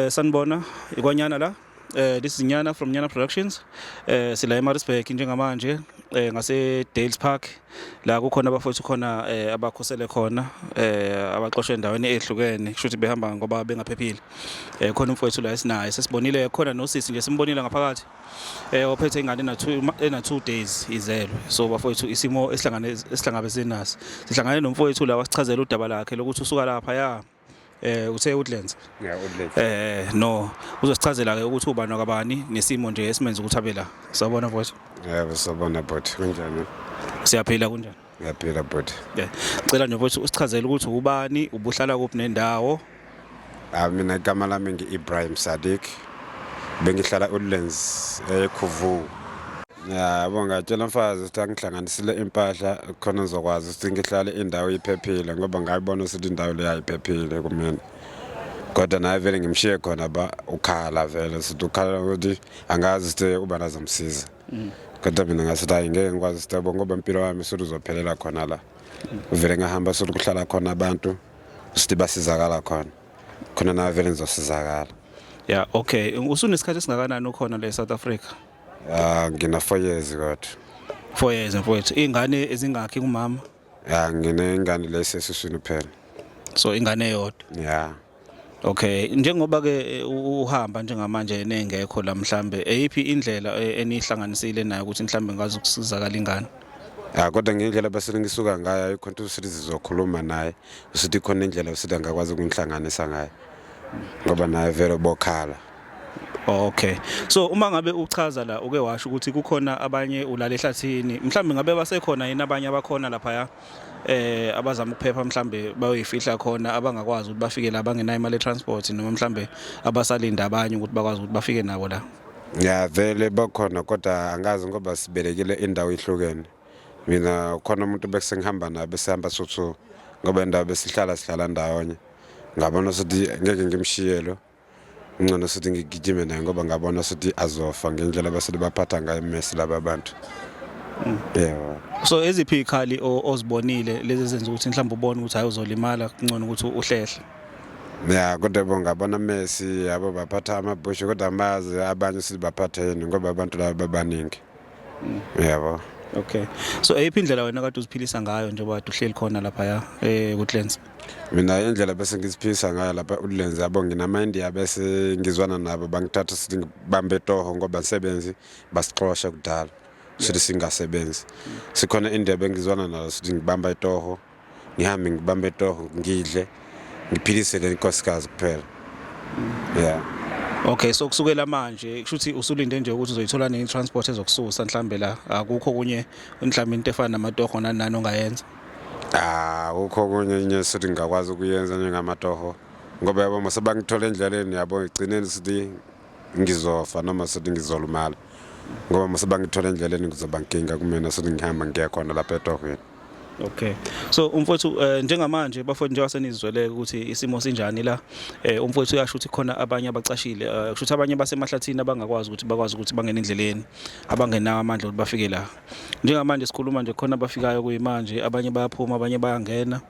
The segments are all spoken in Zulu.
Uh, sanibona ikwanyana la uh, this is nyana from nyana productions uh, sila emarisburg njengamanje eh ngase Dales Park la kukhona abafowethu khona eh abakhosele khona eh abaxoshwe endaweni ehlukene kusho ukuthi behamba ngoba bengaphephile eh khona umfowethu la esinaye sesibonile khona nosisi nje simbonile ngaphakathi eh ophethe ingane na 2 ena 2 days izelwe so bafowethu isimo esihlangane esihlangabezene naso sihlangane nomfowethu la wasichazela udaba lakhe lokuthi usuka lapha ya eh uthe Woodlands yeah Woodlands eh no uzosichazela ke ukuthi ubani wakabani nesimo nje esimenza ukuthi abe la sawubona mfowethu yebo sawubona bhuti kunjani siyaphila kunjani ngiyaphila bhuti yeah cela nje mfowethu usichazele ukuthi ubani ubuhlala kuphi nendawo ah mina igama lami ngi-Ibrahim Sadiq bengihlala uLens eKhuvu yabo ngatshela mfazi ukuthi angihlanganisile impahla khona ngizokwazi ukuthi ngihlale indawo iphephile ngoba ngayibona ukuthi indawo leyo ayiphephile kumina kodwa naye vele ngimshiye khona ba ukhala vele sithi ukhala ukuthi angazi ukuthi uba nazomsiza mm. kodwa mina ngasithi hayi ngeke ngikwazi ukuthi yabo ngoba impilo wami usuthi uzophelela khona la uvele ngahamba usuthi kuhlala khona abantu usuthi basizakala khona khona naye vele ngizosizakala ya okay usunesikhathi esingakanani ukhona le South Africa Ah ngina 4 years kodwa. 4 years mfowethu. Ingane ezingakhi kumama? Ah ngine ingane lesesiswini phela. So ingane yodwa. Yeah. Okay, njengoba ke eh, uhamba njengamanje nengekho la mhlambe, eyiphi indlela eh, enihlanganisile nayo ukuthi mhlambe ngazi ukusizakala ingane? Ah kodwa ngendlela basele ngisuka ngayo ayikho into usithi sizokhuluma naye, usithi khona indlela usithi angakwazi ukunhlanganisa ngayo. Ngoba naye vele bokhala. Okay. So uma ngabe uchaza la uke washo ukuthi kukhona abanye ulale ehlathini, mhlambe ngabe basekhona yini abanye abakhona lapha ya? Eh abazama ukuphepha mhlambe bayoyifihla khona abangakwazi ukuthi bafike la bangenayo imali transport noma mhlambe abasalinda abanye ukuthi bakwazi ukuthi bafike nabo la. Ya vele bakhona kodwa angazi ngoba sibelekile indawo ihlukene. Mina khona umuntu bekusengihamba naye besihamba sothu ngoba indawo besihlala sihlala ndawonye. Ngabona ukuthi ngeke ngimshiyelo. Ngcono sithi ngigijime naye ngoba ngabona sithi azofa ngendlela abasele baphatha ngayo iMessi laba bantu. Mm. Yebo. So eziphi ikhali ozibonile lezi zenza ukuthi mhlawumbe ubone ukuthi hayi uzolimala kungcono ukuthi uhlehle. ya kodwa bonga bona Messi yabo baphatha amabhushu kodwa amazi abanye sibaphatheni ngoba abantu laba babaningi yabo okay so eyiphi indlela wena kade uziphilisa ngayo njengoba kade uhleli khona laphaya eh kucleanse mina indlela bese ngiziphilisa ngayo lapha ulenze yabo nginamaindiya bese ngizwana nabo bangithatha sithi ngibambe toho ngoba ngisebenzi basixosha kudala sithi singasebenzi sikhona indebe engizwana nalo sithi ngibamba itoho ngihambe ngibambe toho ngidle ngiphilise le nkosikazi kuphela yeah Okay so kusukela manje kusho ukuthi usulinde nje ukuthi uzoyithola nini transport ezokususa mhlambe la akukho kunye mhlambe into efana namatoho nanani ongayenza Ah akukho kunye nje sithi ngingakwazi ukuyenza njengamatoho ngoba yabo mase bangithola endleleni yabo igcineni sithi ngizofa noma sithi ngizolumala ngoba mase bangithola endleleni kuzoba nkinga kumina sithi ngihamba ngiya khona lapha etohweni Okay. So umfowethu uh, njengamanje bafowethu njengoba senizwele ukuthi isimo sinjani la eh, umfowethu uyasho ukuthi khona abanye abacashile uh, kusho ukuthi abanye basemahlathini abangakwazi ukuthi bakwazi ukuthi bangene endleleni abangenawo amandla ukuthi bafike la. Njengamanje sikhuluma nje khona abafikayo kuyimanje abanye bayaphuma abanye bayangena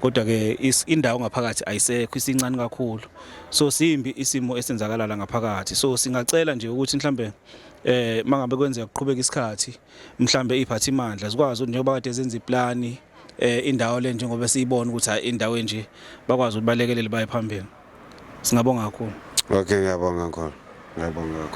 kodwa ke indawo ngaphakathi ayisekho isincane kakhulu. So simbi isimo esenzakala la ngaphakathi. So singacela nje ukuthi mhlambe eh mangabe kwenzeka kuqhubeka isikhathi mhlambe iphathimandla zikwazi ukuthi njengoba kade zenza iplani eh indawo le njengoba siyibona ukuthi hayi indawo enje bakwazi ukuthi balekelele baye phambili singabonga kakhulu okay ngiyabonga kakhulu ngiyabonga kakhulu